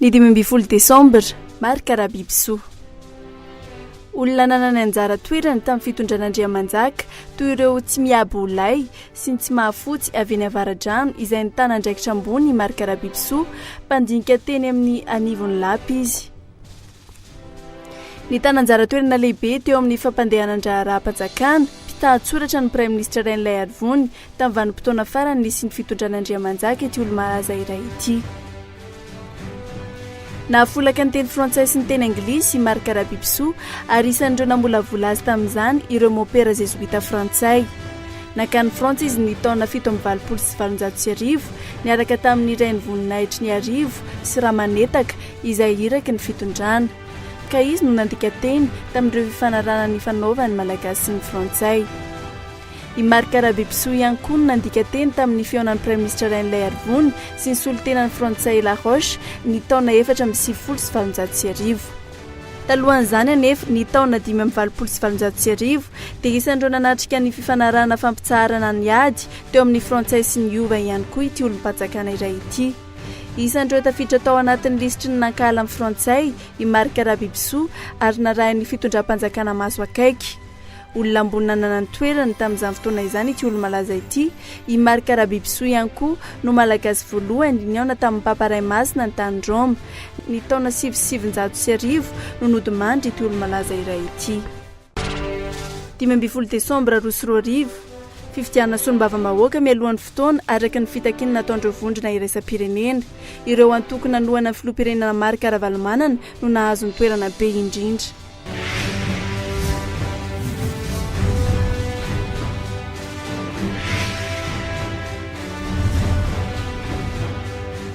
Ny dimy ambin'ny folo desambra, Marc Rabibisoa. Olona nanana anjara toerana tamin'ny fitondran'Andriamanjaka, toy ireo tsy miabo ho lay sy ny tsy mahafotsy avy eny Avaradrano izay nitana andraikitra ambony i Marc Rabibisoa, mpandinika teny amin'ny anivon'ny lapa izy. Nitana anjara toerana lehibe teo amin'ny fampandehanan-draharaham-panjakana, mpitahan-tsoratra ny Praiminisitra Rainilay Harivony, tamin'ny vanim-potoana farany nisian'ny fitondran'Andriamanjaka ity olo-malaza iray ity. Nahafolaka ny teny frantsay sy ny teny anglisy i Marc Rabipisoa, ary isan'ireo namolavola azy tamin'izany ireo môpera zezoita frantsay. Nankany Frantsa izy ny taona fito amby valopolo sy valonjato sy arivo, niaraka tamin'ny Rainivoninahitry ny Arivo sy Ramanetaka, izay iraky ny fitondrana. Ka izy no nandika teny tamin'ireo fifanarahana nifanaovan'ny Malagasy sy ny Frantsay. I Marc Rabebisoa ihany koa no nandika teny tamin'ny fihaonan'ny Praiminisitra Rainilaiarivony sy ny solontenan'ny Frantsay Laroche ny taona efatra amby sivifolo sy valonjato sy arivo. Talohan'izany anefa, ny taona dimy amby valopolo sy valonjato sy arivo, dia isan'ireo nanatrika ny fifanarahana fampitsaharana ny ady teo amin'ny Frantsay sy ny Hova ihany koa ity olom-panjakana iray ity. Isan'ireo tafiditra tao anatin'ny lisitry ny nankahala ny Frantsay i Marc Rabibisoa ary narahin'ny fitondram-panjakana maso akaiky. Olona ambony nanana ny toerany tamin'izany fotoana izany ity olo-malaza ity. I Marc Rabibisoa ihany koa no Malagasy voalohany nihaona tamin'ny Papa Ray Masina ny tany Roma. Ny taona sivy sy sivinjato sy arivo no nodimandry ity olo-malaza iray ity. Dimy ambin'ny folo desambra roa sy roa arivo, Fifidianana solombavambahoaka mialohan'ny fotoana araka ny fitakiana nataon'ireo vondrona iraisam-pirenena. Ireo antoko nanohana ny filoham-pirenena Marc Ravalomanana no nahazo ny toerana be indrindra.